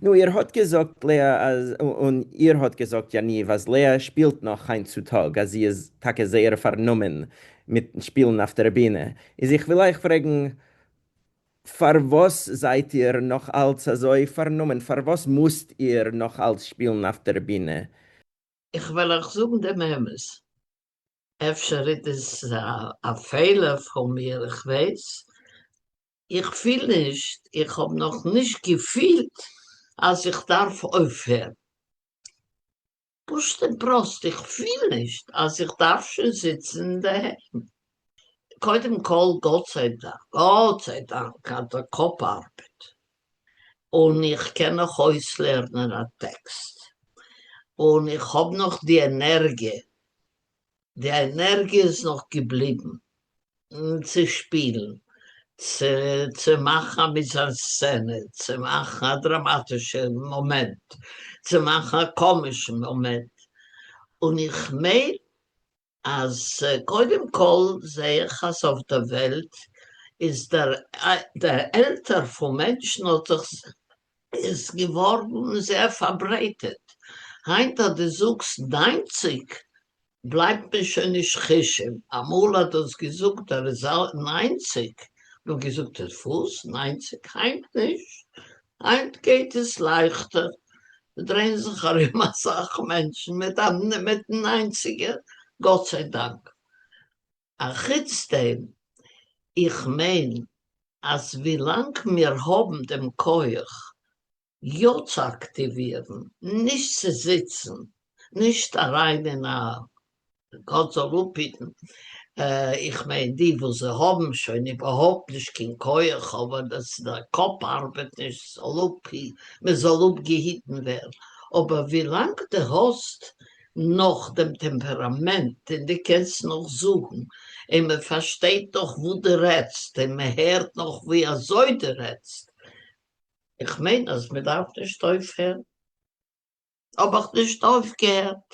נו איר האט געזאגט לאה אז און איר האט געזאגט יניב אז לאה שפילט נאך היינט צו טאג אז זי איז טאקע זייער פארנומען מיט שפילן אויף דער בינע איז איך וויל אייך פרעגן פארוואס זייט איר נאך אלץ אזוי פארנומען פארוואס מוזט איר נאך אלץ שפילן אויף דער בינע? איך וועל אייך זאגן דעם אמת, אפשר איז עס א פעלער פון מיר איך ווייס איך פיל נישט, איך האב נאך נישט געפילט אז איך דארף אויפהערן. פשוט און פראסט, איך פיל נישט אז איך דארף שוין זיצן אינדערהיים. קודם כל, גאט זיי דאנק, גאט זיי דאנק אז די קאפ ארבעט, און איך קען נאך אויסלערנען א טעקסט, און איך האב נאך די ענערגיע די ענערגיע איז נאך געבליבן צו שפילן, צו מאכן א מיזאנסצענע, צו מאכן א דראמאטישע מאמענט, צו מאכן א קאמישן מאמענט, און איך מיין אז קודם כל זע איך אז אויף די וועלט איז דער עלטער פון מענטשן האט זיך איז געווארן זייער פארברייטערט, היינט אז דו זאגסט ניינציג בלייבט מען שוין נישט חושד, אמאל האט דאס געזאגט ער איז ניינציג האט מען געזאגט ער איז וואס ניינציג, היינט נישט, היינט גייט עס לייכטער, ס'דרייען זיך ארום אסאך מענטשן מיט מיטן ניינציגער, גאט זיי דאנק, אחוץ דעם, איך מיין אז ווילאנג מיר האבן דעם כח יא צו אקטיווירן, נישט צו זיצן, נישט אריין אין א, גאט זאל אפהיטן, איך מיין די וואס זיי האבן שוין איבערהויפט נישט קיין כח אבער דאס דער קאפ ארבעט נישט זאל אפהי, מען זאל אפגעהיטן ווערן, אבער ווילאנג די האסט נאך דעם טעמפעראמענט און די קענסט נאך זאגן און מען פארשטייט נאך וואס די רעדסט און מען הערט נאך ווי אזוי די רעדסט איך מיין אז מען דארף נישט אויפהערן האב איך נישט אויפגעהערט.